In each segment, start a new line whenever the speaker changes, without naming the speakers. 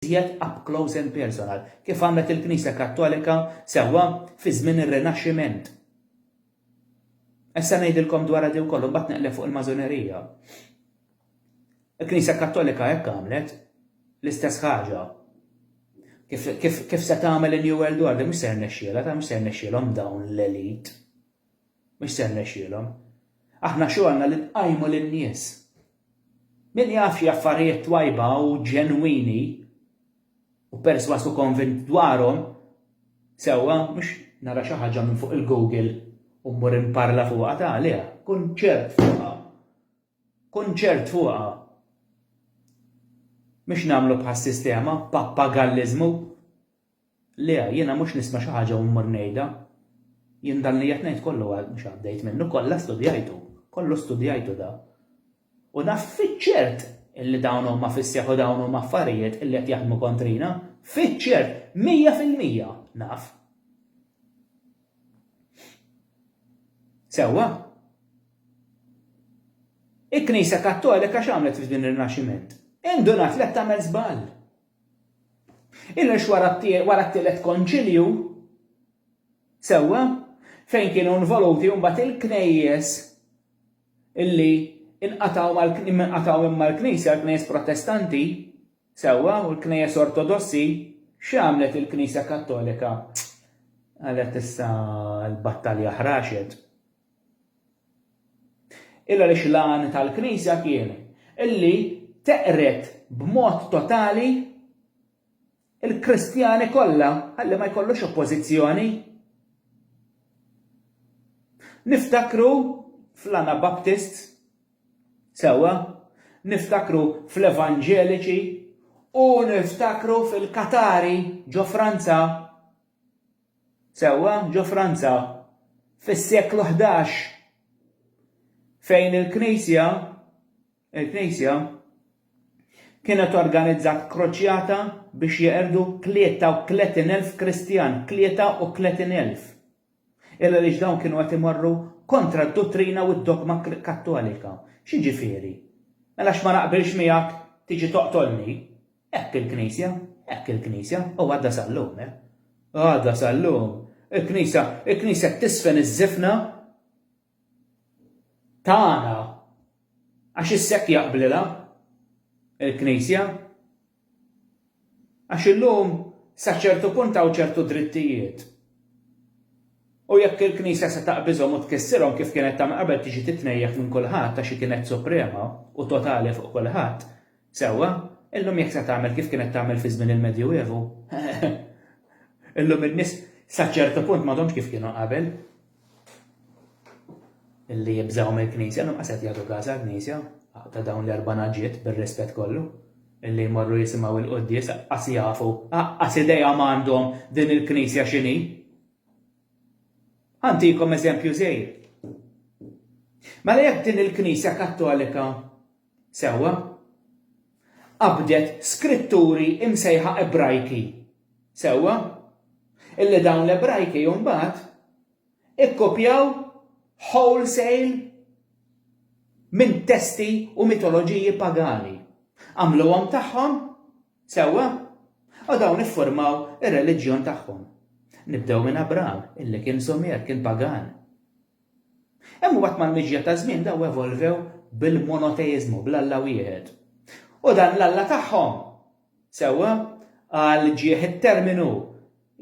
iżjed up close and personal, kif għamlet il-Knisja Kattolika sewwa fi żmien ir-Rinaxximent. Issa ngħidilkom dwarha di wkoll u mbagħad neqleb fuq il-Mażonerija. Il-Knisja Kattolika hekk għamlet l-istess ħaġa. Kif, kif, kif se tagħmel in-New World Order, mhux se rnexxielha, ta' mhux se rnexxielhom dawn l-elit. Mhux se rnexxielhom. Aħna xogħolna li nqajmu lin-nies. Min jaf xi affarijiet twajba u ġenwini u persważ u konvint dwarhom, sewwa, mhux nara xi ħaġa minn fuq il-Google u mmur inparla fuqha ta' għaliha, kun ċert fuqha. Kun ċert fuqha. Mhux nagħmlu bħas-sistema, pappagalliżmu. Le, jiena mhux nisma' xi ħaġa u mmur ngħidha. Jien dan li qed ngħid kollu mhux għaddejt minnu, kollha studjajtu, kollu studjajtu da. U naf fiċ-ċert illi dawn huma fis-seħħ u dawn huma affarijiet illi qed jaħdmu kontrina, fiċ-ċert, mija fil-mija, naf. Sewwa? Il-Knisja Kattolika x'għamlet f'din ir-Rinaxximent? Indunat li qed tagħmel żball. Inhux wara t-Tielet Konċilju, sewwa, fejn kienu involuti mbagħad il-Knejjes illi inqatgħu mal inqatgħu minn mal-Knisja, l-Knejjes Protestanti, sewwa, u l-Knejjes Ortodossi, x'għamlet il-Knisja Kattolika? Qalet issa l-battalja ħraxet. Il għaliex l-għan tal-Knisja kien li teqred b'mod totali l-Kristjani kollha ħalli ma jkollux oppożizzjoni. Niftakru fl-Anabaptist, sewwa, niftakru fl-Evanġeliċi u niftakru fil-Katari ġo Franza. Sewwa ġo Franza, fis-seklu ħdax, fejn il-Knisja, il-Knisja, kienet organizzat kruċjata biex jeqirdu tlieta u tletin elf Kristjan, tlieta u tletin elf, il għaliex dawn kienu qed imorru kontra d-duttrina u d-dogma Kattolika. X'jiġifieri? Mela għax ma naqbilx miegħek tiġi toqtolni? Hekk il-Knisja, hekk il-Knisja, u għadha sal-lum, eh. Għadha sal-lum. Il-Knisja, il-Knisja tisfen iż-żifna tagħna għax is-sekk jaqblilha il-Knisja. Għax illum sa ċertu punt hawn ċertu drittijiet. U jekk il-Knisja se taqbiżhom u tkissirhom kif kienet tagħmel qabel tiġi titnejjaq minn kulħadd għax kienet suprema u totali fuq kulħadd, Sewwa, illum jekk se tagħmel kif kienet tagħmel fi żmien il-Medjuevu, illum in-nies sa ċertu punt m'għadhomx kif kienu qabel, illi jibżgħu mill-Knisja, illum qas qed jagħtu każ għall-Knisja, ta' dawn l-erba' naġiet bir-rispett kollu, illi jmorru jisimgħu il-quddies qas jafu, qas idea m'għandhom din il-Knisja x'inhi. Antikom eżempju żejr. Mela jekk din il-Knisja Kattolika Sewwa. Qabdet Skritturi imsejħa Ebrajki. Sewwa. Illi dawn l-Ebrajki mbagħad ikkopjaw wholesale minn testi u mitoloġiji pagani. Għamluhom tagħhom. Sewwa. U dawn iffurmaw ir-reliġjon tagħhom. Nibdew minn Abram, illi kien Sumer, kien pagan. Imbagħad mal-miġja taż-żmien dawn evolvew bil-monoteiżmu, bl-Alla wieħed. U dan l-Alla tagħhom, sewwa, għal ġieħ it-terminu,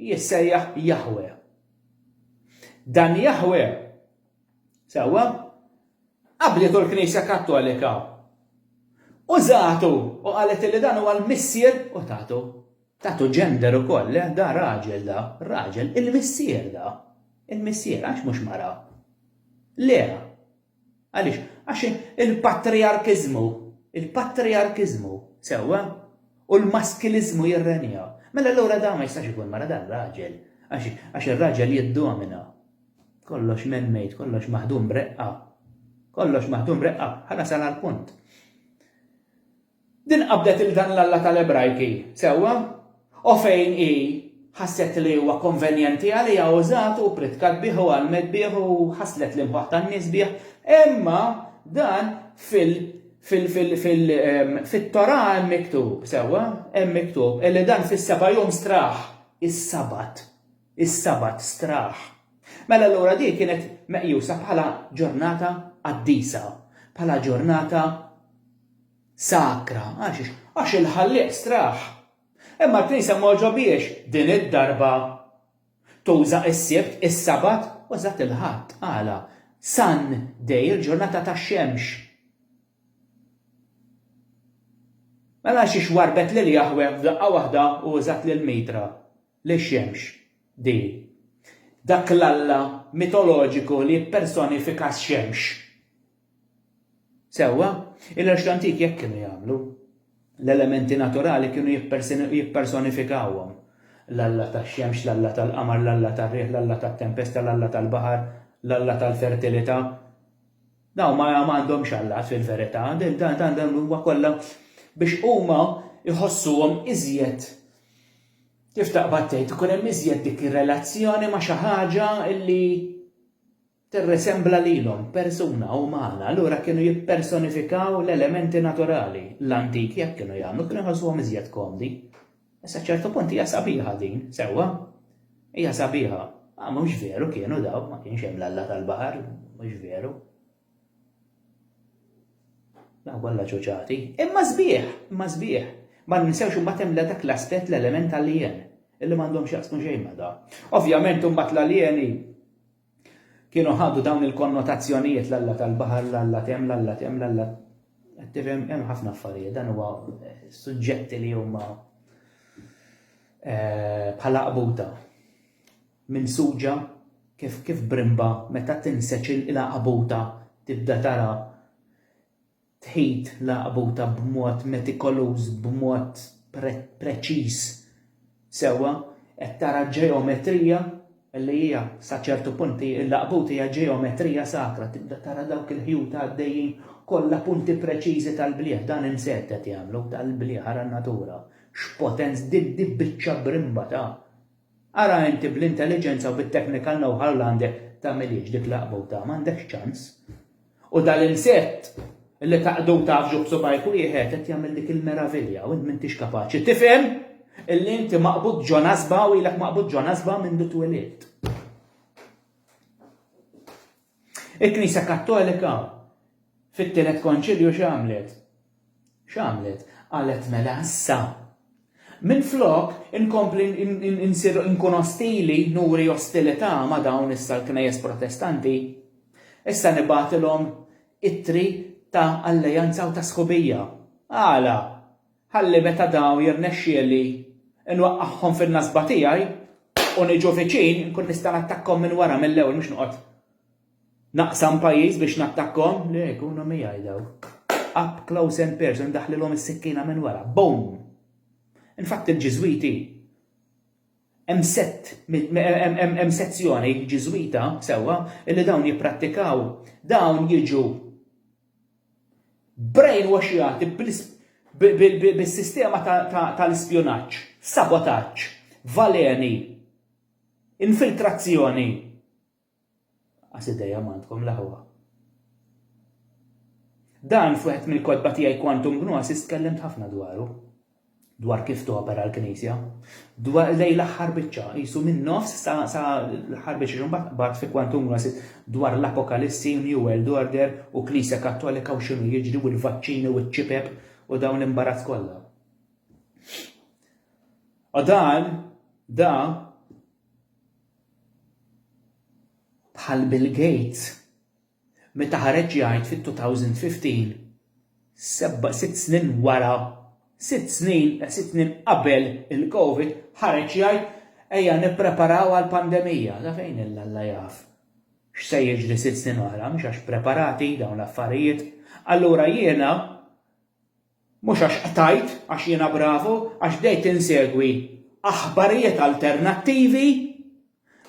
jissejjaħ Jaħweh. Dan Jaħweh, sewwa, qablietu l-Knisja Kattolika. Użatu u qalet li dan huwa l-Missier u tatu. Tagħtu gender ukoll, le, da raġel da, raġel, il-missier da, il-missier, għax mhux mara? Le! Għaliex? Għax il-patrijarkiżmu, il-patrijarkiżmu, sewwa, u l-maskiliżmu jirrenja. Mela allura da ma jistax ikun mara da raġel, għax ir-raġel jiddomina. Kollox man-made, kollox maħdum b'reqqa. Kollox maħdum b'reqqa, ħa nasal għall-punt. Din qabdet lil dan l-Alla tal-Ebrajki, sewwa, u fejn hi ħasset li huwa konvenjenti għaliha użatu u pritkat bih u għallmet bih u ħasslet l-imħuħ tan-nies bih. Imma dan fil, fil, fil, fil, fit-Torah hemm miktub, sewwa, hemm miktub li dan fis-seba' jum straħ, is-Sabat, is-Sabat straħ. Mela allura di kienet meqjusa bħala ġurnata qaddisa, bħala ġurnata Sakra, għal xiex? Għax il-Ħallieq straħ. Imma l-Knisja ma għoġobhiex din id-darba tuża s-Sibt, is-Sabat, u eżatt il-Ħadd, għala? Sun day, il-ġurnata tax-xemx. Mela għal xiex warrbet lil Jaħweh f'daqqa waħda u użat lil Mitra, lix-xemx, din? Dak l-Alla mitoloġiku li jippersonifika x-xemx. Sewwa, il-għerx l-antik hekk kienu jagħmlu. L-elementi naturali kienu jippersonifikawhom, l-alla tax-xemx, l-alla tal-qamar, l-alla tar-riħ, l-alla tat-tempesta, l-alla tal-baħar, l-alla tal-fertilità. Dawn ma għandhomx allat fil-verità, dan huwa kollha biex huma jħossuhom iżjed kif taqbad tgħid ikun hemm iżjed dik ir-relazzjoni ma' xi ħaġa li tirrisembla lilhom, persuna umana, allura kienu jippersonifikaw l-elementi naturali. L-antiki hekk kienu jagħmlu, kienu jħossuhom iżjed komdi. Issa ċertu punt hija sabiħa din, sewwa. Hija sabiħa. Ma mhux veru kienu daw, ma kienx hemm l-alla tal-baħar, mhux veru. Daw kollha ċuċati. Imma sbieħ, imma sbieħ. Ma ninsewx imbagħad hemm dak l-aspett l-element tal-lien illi m'għandhomx jaqsmu xejn ma' da. Ovvjament imbagħad l-alieni Kienu ħadu dawn il-konnotazzjonijiet l-Alla tal-baħar, l-Alla tem, l-Alla tem, l-Alla qed tifhem hemm ħafna affarijiet dan huwa eh, suġġetti li huma eh, bħala qabuta minn suġa kif kif brimba meta tinseċ il-qabuta tibda tara Tħit laqbuta b'mod metikoluż, b'mod preċiż sewwa, qed tara ġeometrija li hija sa ċertu punt hi l-laqbut hija ġeometrija sakra, tibda tara dawk il-ħjut għaddejjin kollha punti preċiżi tal-blieh, dan imsedd qed jagħmlu, tal-blieh ara n-natura, x'potenz, din biċċa brimba ta'. Ara inti bl-intelliġenza u bit-technical know-how li għandek tagħmilhiex dik l-għaqbuta, m'għandekx ċans. U dal-insett li taqdu taf ġuħ subgħajk wieħed qed jagħmel dik il-meravilja u int m'intix kapaċi tifhem illi inti maqbud ġo nasba u ilek maqbud ġo nasba mindu twilidt. Il-Knisja Kattolika fit-Tielet Konċilju x'għamlet? X'għamlet? Qalet mela issa, minflok inkompli nsir inkun ostili, nuri ostilità ma' dawn issa l-Knejjes Protestanti, issa nibagħtilhom ittri ta' alleanza u ta' sħubija. Għala? ħalli meta dawn jirnexxieli nwaqqagħhom fin-nasba tiegħi u niġu viċin inkun nista' nattakkhom minn wara mill-ewwel mhux noqgħod naqsam pajjiż biex nattakkhom, le jkunu miegħi daw. Up close and personal ndaħħlilhom is-sikkina minn wara. Boom! Infatt il-Ġiżwiti hemm sett hemm sezzjoni Ġiżwita sewwa li dawn jipprattikaw dawn jiġu brainwashjati bis-sistema tal-ispjunaġġ, sabotaġġ, valeni, infiltrazzjoni. Qas idea m'għandkom l-aħwa. Dan f'wieħed mill-kotba tiegħi Quantum Gnosis tkellimt ħafna dwaru. dwar kif topera l-Knisja, dwar lejn l-aħħar biċċa, qisu min-nofs sa, sa l-aħħar biċċa, imbagħad bagħat fi Quantum Grasit dwar l-Apokalissi, New World Order u Knisja Kattolika u x'inhu jiġri u l-vaċċini u ċ-ċipep u dawn l-imbarazz kollha. U dan, da, bħal Bill Gates, meta ħareġ jgħid fit-2015, sitt snin wara, sitt snin, sitt snin qabel il-Covid, ħareġ jgħid ejja nippreparaw għall-pandemija. Sa fejn illa Alla jaf x'se jiġri sitt snin oħra, mhux għax preparati dawn l-affarijiet. Allura jiena Mhux għax qtajt, għax jiena bravu, għax bdejt insegwi aħbarijiet alternattivi,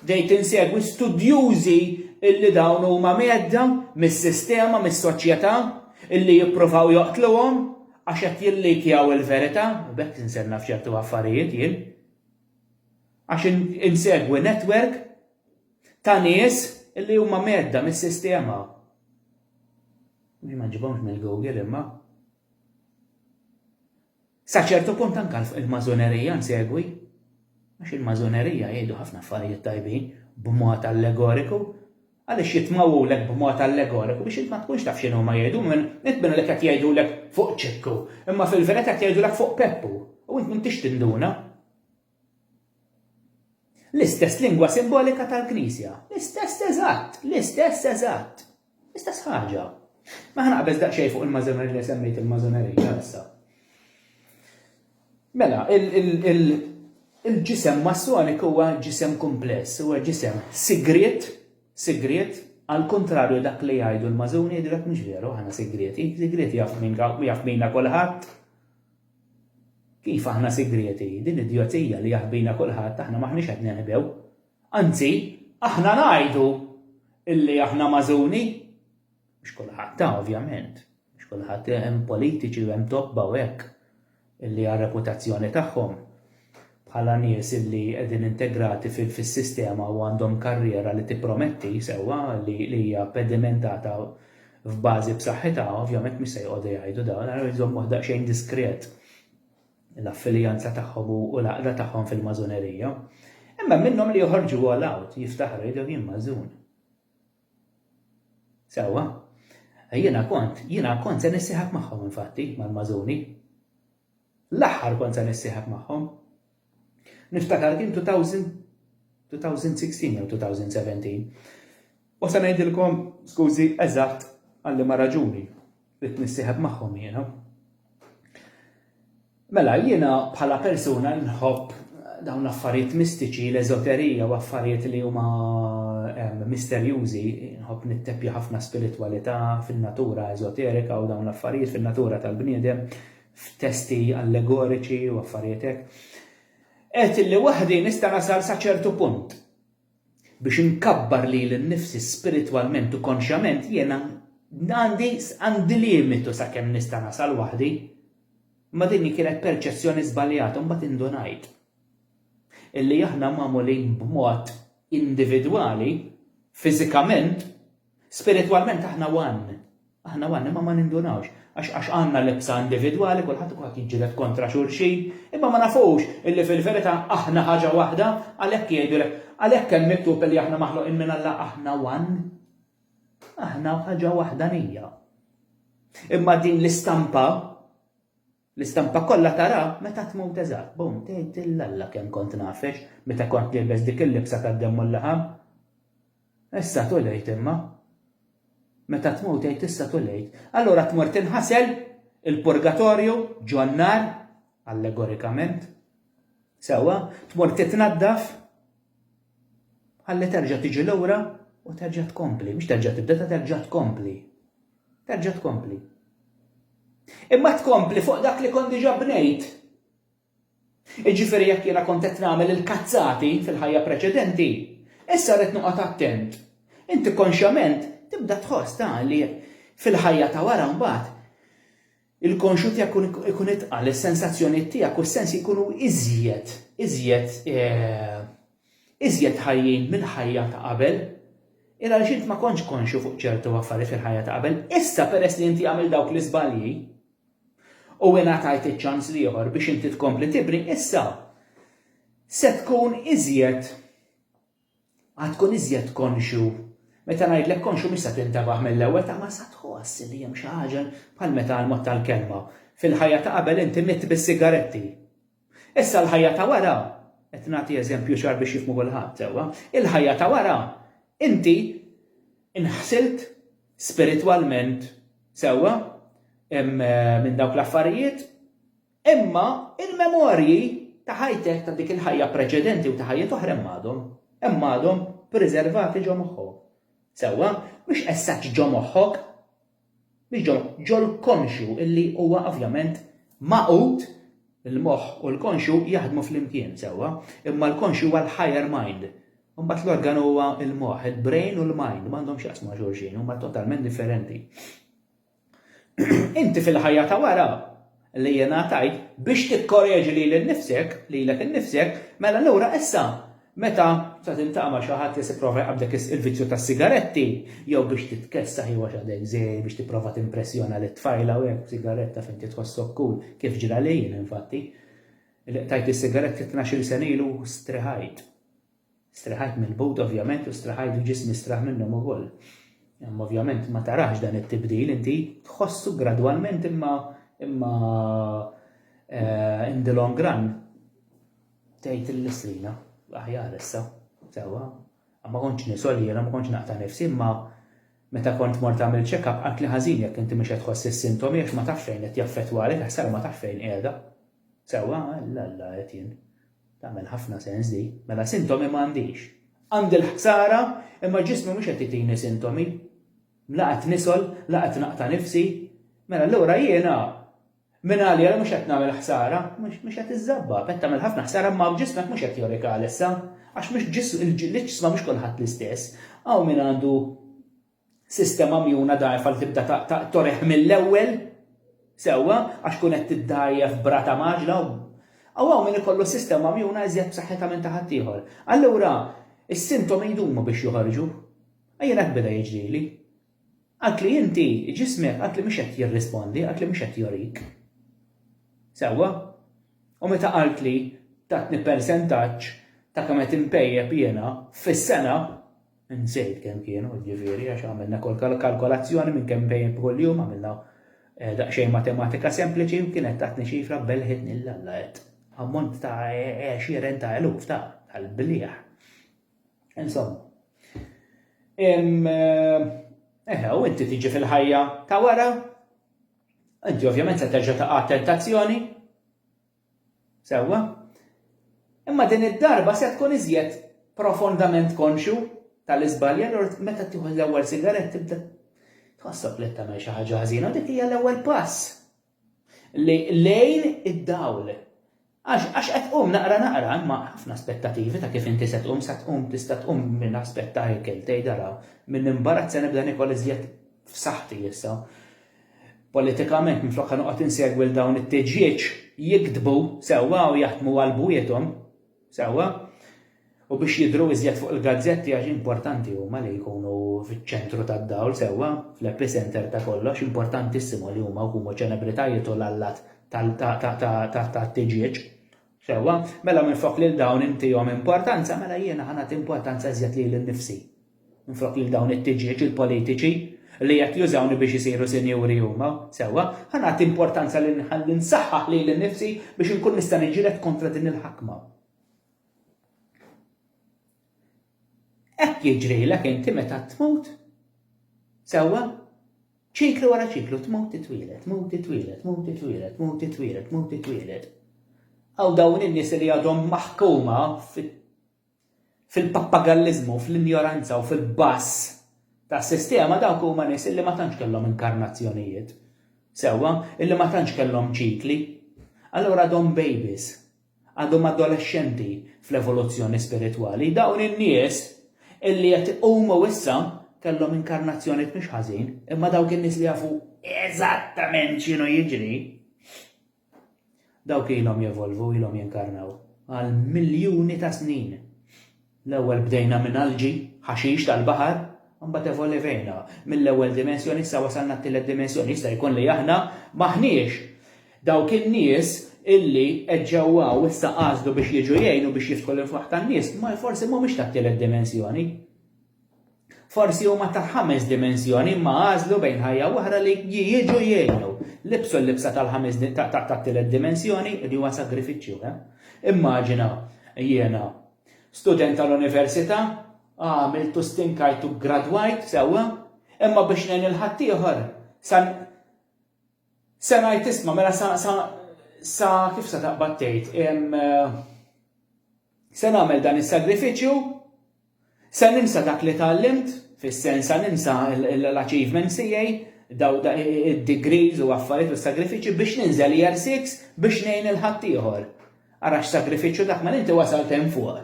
bdejt insegwi studjużi illi dawn huma mgħedda mis-sistema, mis-soċjetà, illi jippruvaw joqtluhom għax qed jillikjaw il-verità, u b'hekk insir naf ċertu affarijiet jien. Għax insegwi netwerk ta' nies illi huma mgħedda mis-sistema. Jien ma ġibhomx mill-Google imma. Sa ċertu punt anke il-Mażonerija nsegwi, għax il-Mażonerija jgħidu ħafna affarijiet tajbin b'mod allegoriku, għaliex jitmawulek b'mod allegoriku biex int ma tkunx taf x'inhu ma jgħidu minn int minn qed jgħidulek fuq ċikku, imma fil-verità qed jgħidulek fuq Peppu u int m'intix tinduna. L-istess lingwa simbolika tal-Knisja. L-istess eżatt, l-istess eżatt. L-istess ħaġa. Ma ħanaqbeż daqsxejn fuq il-mażonerija li semmejt il-mażonerija issa. Mela, il-ġisem massonik huwa ġisem kumpless, huwa ġisem sigriet, sigriet, għal kontrarju dak li jgħidu l-mażuni, dak mhux veru, ħana sigrieti, sigrieti jaf minna kulħadd. Kif aħna sigrieti? Din idjozija li jaħbina kulħadd aħna m'aħniex qed ninħbew. Anzi, aħna ngħidu illi aħna magħżuni. Mhux kulħadd ta' ovvjament. Mhux kulħadd hemm politiċi u hemm tobba u hekk illi għar-reputazzjoni tagħhom bħala nies li qegħdin integrati fis-sistema u għandhom karriera li tipprometti, sewwa, li hija pedimentata f'bażi b'saħħitha, ovvjament mhux se joqogħdu jgħidu dawn, allura jżommuh daqsxejn diskret l-affiljanza tagħhom u l-għaqda tagħhom fil-Mażunerija. Imma hemm minnhom li joħorġu all out, jiftaħru jgħidu jien Mażun. Sewwa, jiena kont, jiena kont se nissieħab magħhom infatti mal-Mażuni. L-aħħar kont se nissieħeb magħhom. Niftakar kien 2016 jew 2017. U se ngħidilkom, skużi, eżatt għal liema raġuni ridt nissieħeb magħhom jiena. Mela, jiena bħala persuna nħobb dawn l-affarijiet mistiċi, l-eżoterija u affarijiet li huma ehm, misterjużi, nħobb nitteppja ħafna spiritualità fin-natura eżoterika u dawn l-affarijiet fin-natura tal-bniedem, f'testi allegoriċi u affarijiet hekk, għedt illi waħdi nista' nasal sa ċertu punt. Biex inkabbar lili nnifsi spiritwalment u konxjament jiena għandi għandi limitu sakemm nista' nasal waħdi. Ma din kienet perċezzjoni żbaljata mbagħad indunajt illi aħna magħmulin b'mod individwali, fiżikament, Spiritwalment aħna one. Aħna one, imma ma nindunawx. Għax għax għandna l-ibsa individwali, kulħadd ikun qed jiġġieled kontra xulxin, imma ma nafux illi fil-verità aħna ħaġa waħda, għalhekk jgħidulek, għalhekk hemm miktub illi aħna maħluqin minn Alla aħna one. Aħna ħaġa waħdanija. Imma din l-istampa L-istampa kollha tara meta tmut eżatt. Bum, tgħid lil Alla kemm kont nagħfex meta kont nielbes dik il-libsa tad-demm u l-laħam. Issa too late imma. Meta tmut tgħid issa too late. Allura tmur tinħasel, il-purgatorju, ġo n-nar, allegorikament. Sewwa, tmur titnaddaf. Ħalli terġa' tiġi lura u terġa' tkompli, mhux terġa' tibda ta' terġa' tkompli. Terġa' tkompli. Imma tkompli fuq dak li kont diġà bnejt. Iġifieri jekk jiena kont qed nagħmel il-kazzati fil-ħajja preċedenti, issa rrid noqgħod attent. Inti konxjament tibda tħoss ta' li fil-ħajja ta' wara mbagħad Il-konxut jekk ikun itqal, is-sensazzjonijiet tiegħek u s-sensi jkunu iżjed, iżjed, iżjed ħajjin mill-ħajja ta' qabel. Ira għaliex int ma kontx konxju fuq ċertu affarijiet fil-ħajja ta' qabel, issa peress li inti għamilt dawk l-iżbalji u ingħatajt iċ-ċans l-ieħor biex inti tkompli tibni, issa se tkun iżjed Għad tkun iżjed konxju. Meta ngħidlek konxju mhix se tintebaħ mill-ewwel taqma' sa tħoss li hemm xi ħaġa bħal meta għall-mod tal-kelma, fil-ħajja ta' qabel inti midt bis-sigaretti. Issa l-ħajja ta' wara, qed nagħti eżempju ċar biex jifhmu kulħadd sewwa, il-ħajja ta' wara inti inħsilt spiritwalment sewwa minn dawk l-affarijiet Imma il-memorji ta' ħajtek, ta' dik il-ħajja preċedenti u ta' ħajjet oħra hemm għadhom. Hemm għadhom priservati ġo moħħok. Sewwa, mhux essaċ ġo moħħok, mhux ġo ġol-konxju illi huwa ovvjament magħqud, il-moħħ u l-konxju jaħdmu flimkien, sewwa, imma l-konxju huwa l-higher mind. Imbagħad l-organ huwa l-moħħ, il-brain u l-mind, m'għandhomx jaqsmu ma' xulxin, huma totalment differenti. Inti fil-ħajja ta' wara li ingħatajt biex tikkoreġi lili nnifsek, lilek innifsek, mela allura issa meta se tiltaqa' ma' xi ħadd li se jipprova jqabbdek il-vizzju tas-sigaretti, jew biex titkessaħ jew għax għadek żgħir biex tipprova timpressjona lit-tfajla u hekk b'sigaretta fejn inti tħossok cool, kif ġrali jien infatti, li qtajt is-sigaretti tnax-il sena ilu u strehajt. Strieħajt mill-but ovvjament u strieħajt u ġismi straħ minnhom ukoll. Imma ovvjament ma tarax dan it-tibdil inti, tħossu gradwalment imma imma eh, in the long run tgħid il-listrina aħjar issa, sewwa. Ma kontx nisol jiena ma kontx naqta' nifsi imma meta kont mort tagħmel check-up għat li ħażin jekk inti mhux qed tħoss is-sintomi għax ma tafx fejn qed jaffettwalek għax sar ma tafx fejn qiegħda. Sewwa, la la qed jien. Tagħmel ħafna sens din. Mela sintomi m'għandix. Għandi l-ħsara imma ġismi mhux qed jtini sintomi. La qed nisgħol, la qed naqta' nifsi. Mela allura jiena mingħalija li mhux qed nagħmel ħsara, mhux qed iżżabba, qed tagħmel ħafna ħsara imma ġismek mhux qed jorik għalissa. Għax mhux ġisma mhux kulħadd l-istess. Hawn min għandu Sistema mjuna dgħajfa li tibda toreħ mill-ewwel, sewwa, għax tkun qed tiddgħajjef b'rata mgħaġġla u hawn hawn min ikollu sistema mjuna iżjed b'saħħitha minn ta' ħaddieħor. Allura, is-sintomi jdumu biex joħorġu. Jien hekk beda jiġrili. Għidt li inti, ġismek għidt li mhux qed jirrispondi, għidt li mhux qed jorik. Sewwa? U meta qalt li tatni persentaġġ ta' kemm qed inpejjep jiena fis-sena, Insejt kemm kienu, jiġifieri, għax għamilna kalkolazzjoni minn kemm inbejjed b'kull jum, għamilna daqsxejn matematika sempliċi u kienet tatni ċifra belħitni lil Alla għedt. Ammont ta' għexieren ta' eluf ta' tal-bliegħ. Insomma. Eħe, u inti tiġi fil-ħajja ta' wara, inti ovvjament se terġa' ta' tentazzjoni, Sewwa. Imma din id-darba se tkun iżjed profondament konxju tal-iżbalji, allura meta tieħu l-ewwel sigarett tibda tħossok li qed tagħmel xi ħaġa ħażina u dik hija l-ewwel pass lejn id-dawl. Għax għax qed tqum naqra naqra imma ħafna aspettativi ta' kif inti se tqum se tqum tista' tqum minn aspett ta' ikel tgħid araw minn imbarazz se nibda nikol iżjed f'saħħti issa. Politikament, minflok ħa noqgħod insegwi 'l dawn it-tiġieġ jiktbu sewwa u jaħdmu għal bwiethom sewwa, u biex jidhru iżjed fuq il-gazzetti għax importanti huma li jkunu fiċ-ċentru tad-dawl sewwa, fl-epicentre ta' kollox, importantissimo li huma jkunu ċelebritajiet u l-allat tat-tiġieġ sewwa, mela minflok lil dawn intihom importanza, mela jiena ħa nagħti importanza iżjed lili nnifsi. Minflok lil dawn it-tiġieġ il-politiċi, li qed jużawni biex isiru sinjuri huma, sewwa, ħa nagħti importanza li nħalli nsaħħaħ lili nnifsi biex inkun nista' niġġieled kontra din il-ħakma. Hekk jiġrilek inti meta tmut. Sewwa? Ċiklu wara ċiklu, tmut titwielet, tmut titwielet, tmut titwielet, tmut titwielet, tmut titwielet. Għaw dawn in-nies li għadhom maħkuma fit Fil-pappagalliżmu, fl-injoranza u fil-bass tas-sistema dawk huma nies illi ma tantx kellhom inkarnazzjonijiet. Sewwa, illi ma tantx kellhom ċikli. Allura għadhom bejbies. Għadhom adolexxenti fl-evoluzzjoni spiritwali. Dawn in-nies illi qed iqumu issa kellhom inkarnazzjonijiet mhux ħażin, imma dawk in-nies li jafu eżattament x'inhu jiġri, Dawk ilhom jevolvu, ilhom jinkarnaw għal miljuni ta' snin. L-ewwel bdejna minn algi, ħaxix tal-baħar, imbagħad evolivejna mill-ewwel dimensjoni issa wasalna t-tielet dimensjoni. Jista' jkun li aħna m'aħniex dawk in-nies illi qed ġewwa u issa qasdu biex jiġu jgħinu biex jiftħu l-infwaħ tan-nies, ma forsi m'humiex tat-tielet dimensjoni. Forsi huma ta' ħames dimensjoni imma għażlu bejn ħajja u oħra li jiġu jgħinu. Libsu l-libsa tal-ħames tat-tielet dimensjoni li huwa sagrifiċċju. Eh? Immaġina jiena student tal-università, għamiltu stinkajtu gradwajt sewwa, imma biex ngħin il-ħaddieħor san Se ngħid isma' mela sa sa sa kif se taqbad tgħid se nagħmel dan is-sagrifiċċju, se ninsa dak li tgħallimt, fis-sens se ninsa l-achievements tiegħi, daw id-degrees u affarijiet u sagrifiċċji biex ninżel year six biex ngħin lil ħaddieħor. Ara x'sagrifiċċju dak mela inti wasalt hemm fuq.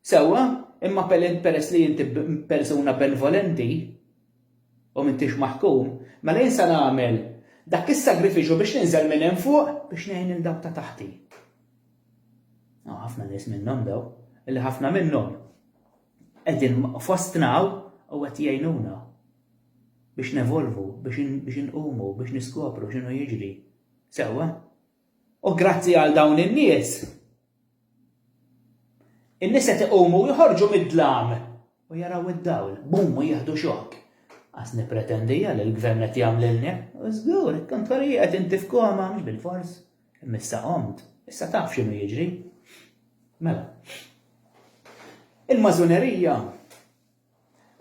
Sewwa, imma peress li inti persuna benvolenti u m'intix maħkum, mela jien se nagħmel dak is-sagrifiċċju biex ninżel minn hemm fuq biex ngħin lil dawk ta' taħti. Hawn ħafna nies minnhom daw, illi ħafna minnhom qegħdin fostna u qed jgħinuna biex nevolvu, biex inqumu, biex niskopru x'inhu jiġri. Sewwa, U grazzi għal dawn in-nies, in-nies qed iqumu u joħorġu mid-dlam u jaraw id-dawl, bum u jieħdu xokk. Qas nippretendiha li l-gvern qed jagħmlilni, u żgur, kont wara inti f'koma, mhux bil-fors, imma issa qomt, issa taf x'inhu jiġri. Mela, il-mażunerija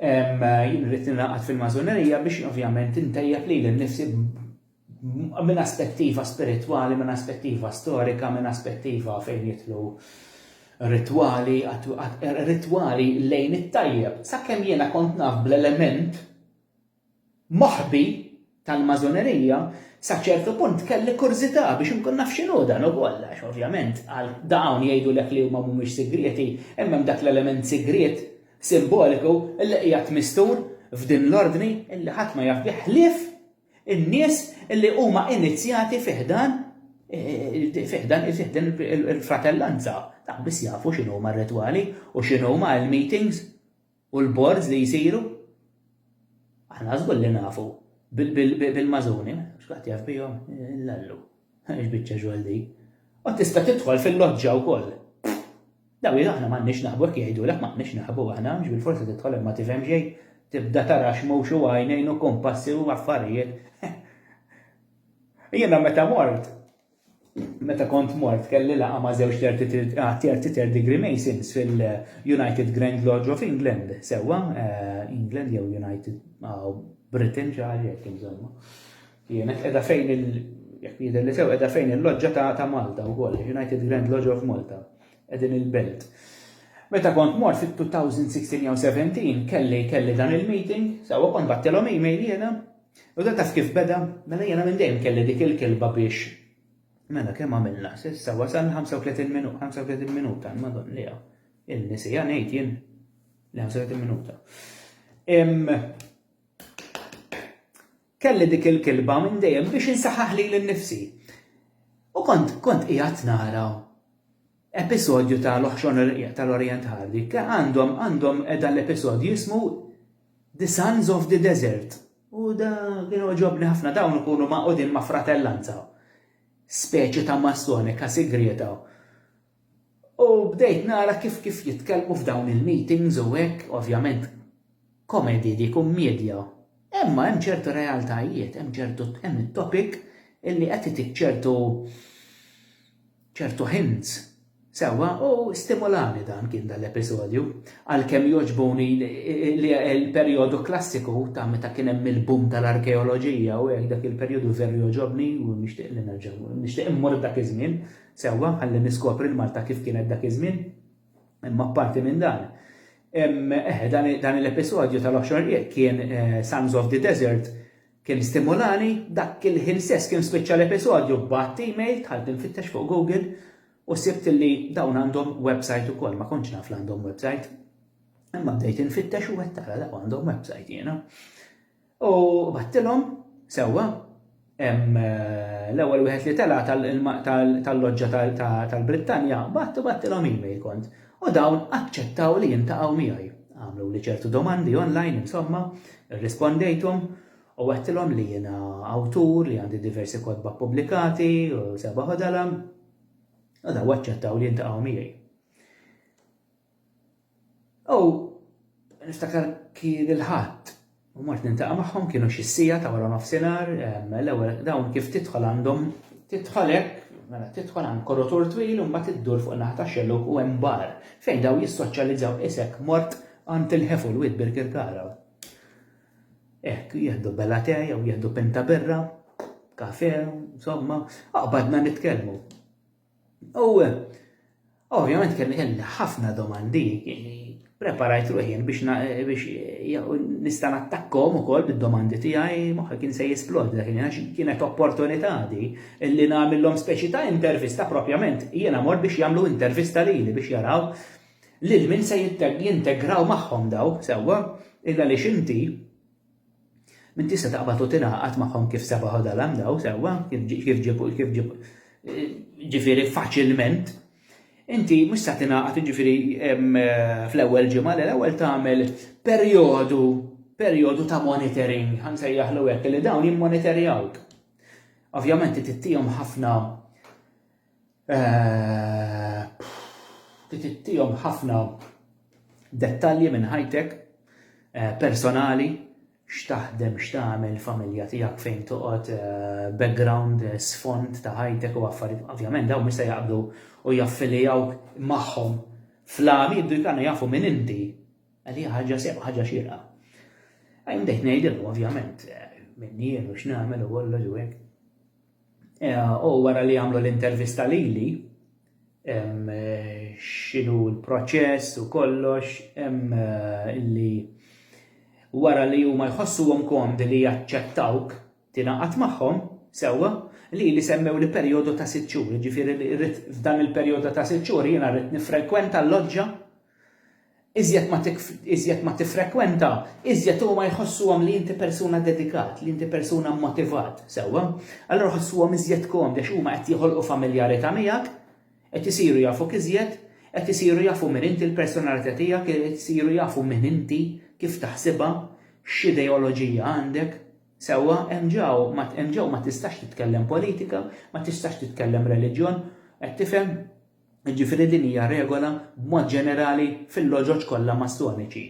Jien rrid ningħaqad fil-Masonerija biex ovvjament intejjeb lili nnifsi minn aspettiva spiritwali, minn aspettiva storika, minn aspettiva fejn jidħlu ritwali, ritwali lejn it-tajjeb. Sakemm jiena kont naf bl-element moħbi tal-Masonerija, sa ċertu punt kelli kurżità biex inkun naf x'inhu dan ukoll, għax ovvjament għal dawn jgħidulek li huma mhumiex sigrieti, imma hemm dak l-element sigriet, simboliku, li qiegħed mistur f'din l-ordni li ħadd ma jaf bih ħlief in-nies li huma inizjati fi ħdan fi ħdan il-fratellanza. Dak biss jafu x'inhuma r-ritwali u x'inhuma l-meetings. u l-boards li jsiru, aħna żgur li nafu bil-mażuni, x'kulħadd jaf bihom, l-allu. X'biċċa xogħol din. U tista' tidħol fil-loġġa wkoll. Daw aħna m'għandniex naħbu hekk jgħidulek m'għandniex naħbu aħna, mhux bil-forsi tidħol imma tifhem xejn, tibda tara x'mhux u għajnejn u kumpassi u affarijiet. Jiena meta mort, Meta kont mort kelli laqgħa ma' żewġ Thirty Third Degree Masons fil-United Grand Lodge of England, sewwa, eh, England jew United ah, Britain xi ħaġa hekk insomma. Kienet qiegħda fejn il jekk jidher li sew qiegħda fejn il-loġġa ta' ta' Malta wkoll, United Grand Lodge of Malta, qegħdin il-belt. Meta kont mort fit-2016 jew 17 kelli kelli dan il-meeting, sewwa kont battilhom email jiena, U dan taf kif beda? Mela jiena minn dejjem kelli dik il-kilba biex Mela kemm għamilna s'issa wasalna 35 minuta, 35 minuta, madon li il-nisija ngħid jien li 35 minuta. Kelli dik il-kilba minn dejjem biex insaħħaħ li l-nifsi. U kont kont qiegħed nara episodju ta' L-Oħxon tal-Orjent Ħarri ke għandhom għandhom dan l-episodju jismu The Sons of the Desert. U da kien oġobni ħafna dawn ikunu maqudin ma' fratellanza. Speċi ta' massonika sigrieta. U bdejt nara kif kif jitkellmu f'dawn il-meetings u hekk, ovvjament, komedy, di kummiedja. Imma hemm ċertu realtajiet, hemm ċertu hemm it-topic illi qed itik ċertu ċertu hints. Sewwa, u stimulani dan kien dan l-episodju. Għalkemm jogħġbuni l-perjodu klassiku ta' meta kien hemm il-boom tal-arkeoloġija u hekk dak il-perjodu veru jogħġobni u nixtieq li nerġa' nixtieq immur dak iż-żmien. Sewwa, ħalli niskopri l-Malta kif kienet dak iż-żmien. Imma apparti minn dan, eh, dan l-episodju tal-Offshore Rieq kien eh, Sons of the Desert kien stimulani, dak il-ħin stess kien spiċċa l-episodju b'għadd email tħalt infittex fuq Google u sibt li dawn għandhom website ukoll, ma kontx naf għandhom website. Imma bdejt infittex u qed tara dawn għandhom website jiena. U battilhom, sewwa, hemm l-ewwel wieħed li tela' tal-loġġa tal-Brittanja batt u battilhom email kont. U dawn aċċettaw li jintaqgħu miegħi. Għamluli ċertu domandi online insomma, irrispondejthom u għedtilhom li jiena awtur li għandi diversi kotba ppubblikati u seba' ħodala. U daw aċċettaw li jintaqgħu miegħi. U niftakar kien il-ħadd u mort nintaqa' magħhom kienu xi sija ta' wara nofsinhar, l-ewwel dawn kif tidħol għandhom tidħol hekk, mela tidħol għand korotur twil u mbagħad iddur fuq naħa ta' xellug u hemm bar fejn dawn jissoċjalizzaw isek mort għand il-ħefu l-wied Birkirkara. Hekk jieħdu bella te jew jieħdu pinta birra, kafe, insomma, aqbadna nitkellmu. U ovvjament kelli kelli ħafna domandi, preparajt ruħi biex nista' nattakkom ukoll bid-domandi tiegħi moħħi kien se jisplod dak għax kienet opportunità di li nagħmilhom speċi ta' intervista propjament jiena mort biex jagħmlu intervista lili biex jaraw lil min se jintegraw magħhom daw sewwa illa għaliex inti Min tista' taqbad u tingħaqad magħhom kif seba' ħodha l-għamdaw sewwa, kif ġieb kif ġieb ġifieri faċilment. Inti mhux sa tingħaqad ġifieri fl-ewwel ġimgħa, le l-ewwel tagħmel perjodu perjodu ta' monitoring, ħa nsejjaħlu hekk, li dawn jimmonitorjawk. Ovvjament tittihom ħafna Qed ittihom ħafna dettalji minn ħajtek personali, x'taħdem, x'tagħmel, il-familja tiegħek, fejn toqgħod, background, sfond ta' ħajtek u affarijiet. Ovvjament dawn mhux se jaqbdu u jaffilijawk magħhom fl-għami, jibdu jkunu jafu minn inti. Għalija ħaġa sew, ħaġa xierqa. Għajn bdejt ngħidilhom ovvjament minni jien u x'nagħmel u kollox u hekk. U wara li għamlu l-intervista lili, x'inhu l-proċess u kollox, li wara li huma jħossuhom komdi li jaċċettawk tingħaqad magħhom, sewwa, lili semmewli perjodu ta' sitt xhur, jiġifieri li rrid f'dan il-perjodu ta' sitt xhur jiena rrid niffrekwenta l-loġġa Iżjed ma tiffrekwenta, iżjed huma jħossuhom li inti persuna dedikat, li inti persuna mmotivat, sewwa. Allura jħossuhom iżjed komdi għax huma qed joħolqu familjarità miegħek, qed isiru jafuk iżjed, qed isiru jafu min inti, l-personalità tiegħek, qed isiru jafu min inti, kif taħsibha, x'ideoloġija għandek, sewwa. Hemm ġew ma tistax titkellem politika, ma tistax titkellem reliġjon, qed tifhem? Jiġifieri din hija regola b'mod ġenerali fil-loġoġ kollha Mastoniċi.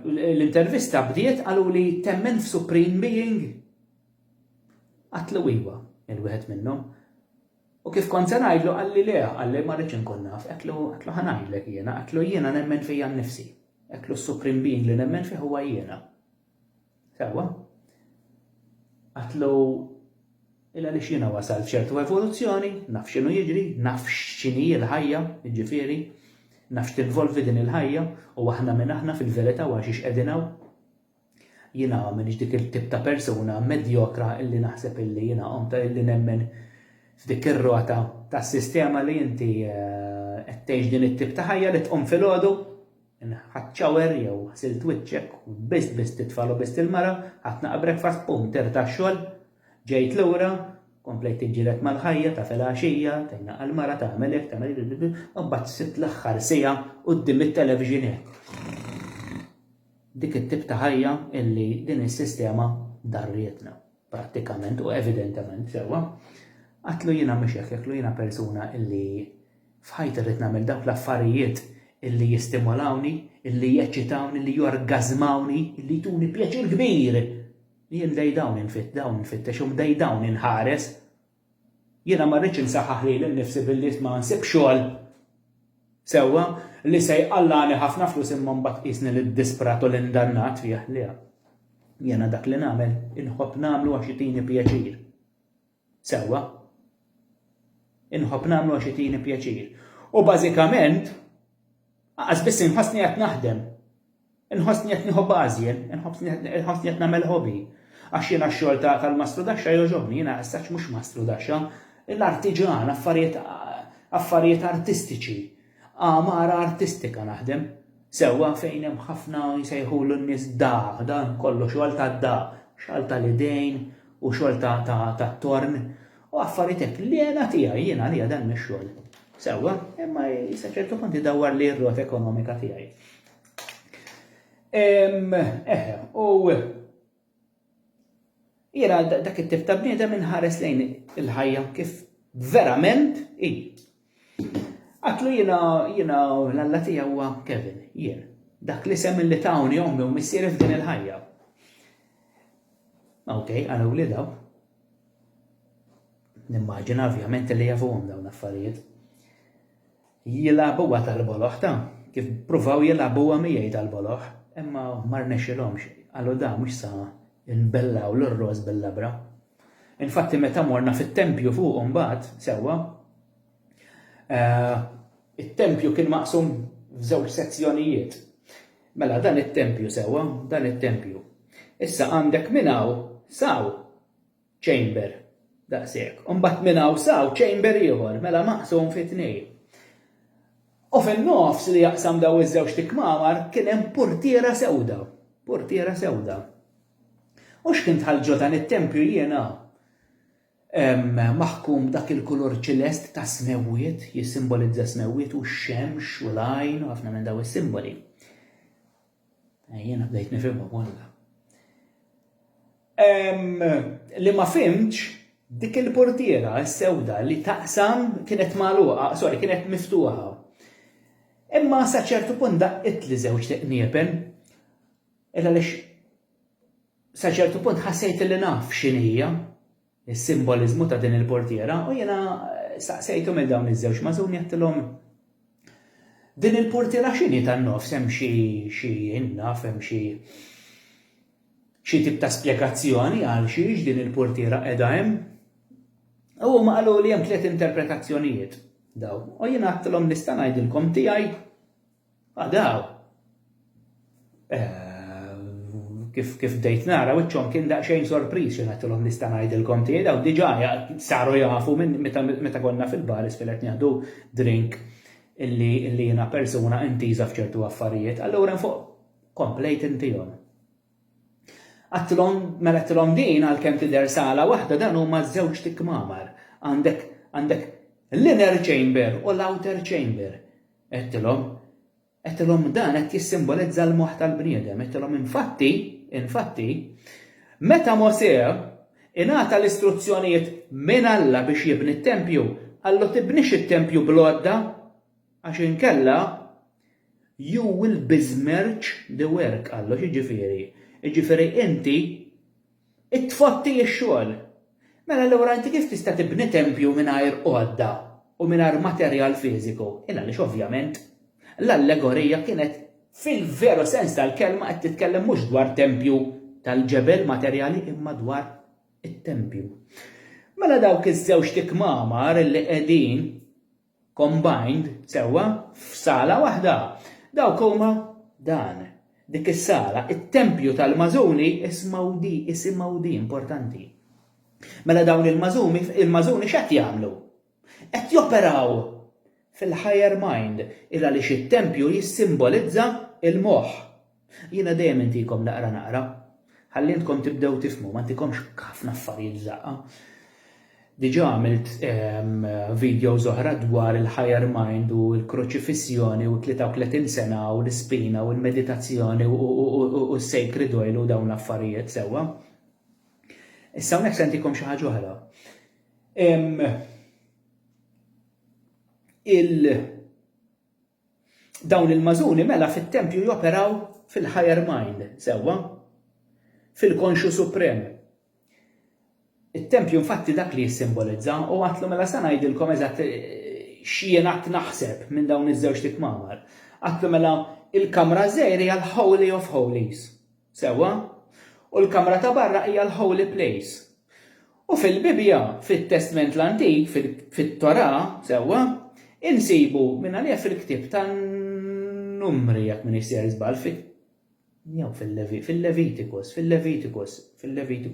L-intervista bdiet qaluli temmen f'Supreme Being? Għatlu iva, il wieħed minnhom. U kif kont se ngħidlu qalli le, qalli ma rridx inkun naf, għetlu għetlu ħanajdlek jiena, għetlu jiena nemmen fija nnifsi. Għetlu s-Supreme Being li nemmen fih huwa jiena. Sewwa. Għatlu illa li xina wasal f'ċertu evoluzzjoni, naf xinu jiġri, naf xini il-ħajja, ġifiri, naf x'tinvolvi din il-ħajja, u aħna minn aħna fil-verita u għaxix edinaw. Jina minn dik il-tip ta' persuna medjokra illi naħseb illi jina omta illi nemmen f'dik ir-rota ta' sistema li jinti għettejx eh, din it-tip ta' ħajja li tqum fil-ħodu, Ħadt shower jew ħsilt wiċċek u lbist biss t-tfal u biss il-mara, ħadt naqa' breakfast bum tirt għax-xogħol. Ġejt lura, komplejt tiġġieled mal-ħajja, taf il-għaxija, tgħinna għall-mara, tagħmel hekk, tagħmel hekk, u mbagħad sibt l-aħħar siegħa quddiem it-television hekk. Dik it-tip ta' ħajja illi din is-sistema darrietna. prattikament u evidentement sewwa, qatlu jiena mhux hekk, qatlu jiena persuna illi f'ħajti rrid nagħmel dawk l-affarijiet illi jistimolawni, illi jeċċitawni, illi jorgażmawni, illi jtuni pjaċir kbir. Jien dej dawn infitt, dawn infittexhom, dej dawn inħares. Jiena ma rridx insaħħaħ lili nnifsi billi ma nsibx xogħol sewwa, li se jqallagħni ħafna flus imma mbagħad tqisni lid-disprat u l-indannat fih. Le. Jiena dak li nagħmel inħobb nagħmlu għax itini pjaċir. Sewwa. Inħobb nagħmlu għax itini pjaċir. U bażikament, aqas biss inħossni qed naħdem. Inħossni qed nieħu bażi, inħossni qed nagħmel hobby. Għax jiena x-xogħol tal-mastrudaxxa jogħġobni, jiena issa mhux mastrudaxxa, l-artiġan, affarijiet artistiċi, għamara artistika naħdem. Sewwa fejn hemm ħafna jsejħulu n-nies da, dan kollu xogħol tad-da, xogħol tal-idejn u xogħol tat-torn u affarijiet hekk. L-għena tiegħi, jiena għalija dan mhix xogħol. Sewwa, imma sa ċertu punt idawwarli r-rota ekonomika tiegħi. Eh, u jiena dak it-tip ta' bniedem inħares lejn il-ħajja kif verament i. Għatlu jiena jiena l-alla tiegħi huwa Kevin, jien. Dak li sem li tawni ommi u missieri f'din il-ħajja. Ok, għana u li daw. Nimmaġina ovvjament li jafuhom dawn l-affarijiet. Jilagħbuha tal-boloħ ta' kif pruvaw jilagħbuha miegħi tal-boloħ, imma ma rnexxilhomx, qalu da mhux sa nbellaw l-irroż bil-labra. Infatti meta morna fit-tempju fuq imbagħad, sewwa, eh, it-tempju kien maqsum f'żewġ sezzjonijiet. Mela dan it-tempju sewwa, dan it-tempju. Issa għandek minn hawn saw Chamber, daqshekk. U mbagħad minn hawn s'hawn chamber ieħor, mela maqsum fi tnejn. U fin-nofs li jaqsam dawn iż-żewġt ikmamar kien hemm portiera sewda, portiera sewda. U x'kien dħalt ġo dan it-tempju jiena maħkum dak il-kulur ċilest tas-smewwiet, jissimbolizza s-smewwiet u x-xemx u l-għajn u ħafna minn dawn is-simboli. Eh, jiena bdejt nifhimhom walla. Li ma fimx dik il-portiera s-sewda li taqsam kienet magħluqa, sorry, kienet miftuħa. Imma sa ċertu punt daqqit li żewġ tiqniepen. Illa lix sa ċertu punt ħassejt li naf x'inhija. is-simboliżmu ta' din il-purtiera u jiena staqsejthom lil dawn iż-żewġ magħżuni għedtilhom, Din il-purtiera x'inhi tan-nofs hemm xi xi innaf hemm xi xi tip ta' spjegazzjoni għal xiex din il-purtiera qiegħda hemm? U huma qaluli hemm tliet interpretazzjonijiet dawn. U jiena għedtilhom nista' ngħidilkom tiegħi Għadaw. Eh, kif kif bdejt nara wiċċhom kien daqsxejn sorpriż xi ngħidilhom nista' ngħidilkom tiegħi daw diġà saru jafu minn meta konna fil-bar isfel qed nieħdu drink illi illi jiena persuna intiża f'ċertu affarijiet, allura fuq komplejt intihom. Għattilhom mela għattilhom din għalkemm tidher sala waħda dan huma żewġ tikmamar. Għandek għandek l-inner chamber u l-outer chamber. Għedtilhom, Għedtilhom, Dan qed jissimbolizza l-moħħ tal-bniedem. Għedtilhom, Infatti, infatti, meta Mosè ingħata l-istruzzjonijiet minn Alla biex jibni t-tempju, qallu tibnix it-tempju bl-għodda, għax inkella you will besmirch the work, qallu, x'jiġifieri? Jiġifieri inti It-tfotti x-xogħol. Mela allura inti kif tista' tibni tempju mingħajr għodda u mingħajr materjal fiżiku? Il-għaliex ovvjament l-allegorija kienet fil-veru sens tal-kelma qed titkellem mhux dwar tempju tal-ġebel materjali imma dwar it-tempju. Mela dawk iż-żewġt ikmamar li qegħdin Combined, sewwa, f'sala waħda. Dawk huma dan, dik is-sala, it-tempju tal-magħżuni, ismgħu di, isimgħu di, importanti. Mela dawn il-magħżumi, il-magħżuni x'qed jagħmlu? Qed joperaw fil-higher mind, il għaliex it-tempju jissimbolizza l-moħħ. Jiena dejjem intikom naqra naqra, ħalli intkom tibdew tifhmu, ma ntikomx ħafna affarijiet f'daqqa. Diġà għamilt videos oħra dwar il-higher mind u l-kruċifissjoni u 33 sena u l-ispina u l-meditazzjoni u s-sacred oil u dawn l-affarijiet sewwa. Issa hawnhekk se ntikom xi ħaġa oħra. Il Dawn il-magħżuni mela fit-tempju joperaw fil-higher mind, sewwa? Fil-konxju suprem. It-tempju infatti dak li jissimbolizza u għatlu mela sa ngħidilkom eżatt x'jien għadt naħseb minn dawn iż-żewġt itmamar. Għatlu mela il-kamra żgħira hija l-holy of holies. Sewwa? U l-kamra ta' barra hija l-holy place. U fil-Bibbja, fit-Testment l-Antik, fit-Torah, sewwa, insibu mingħalija fil-ktieb tan-Numri jekk m'iniex sejjer żball, jew fil-Levitikus, fil-Levitikus, fil-Levitikus.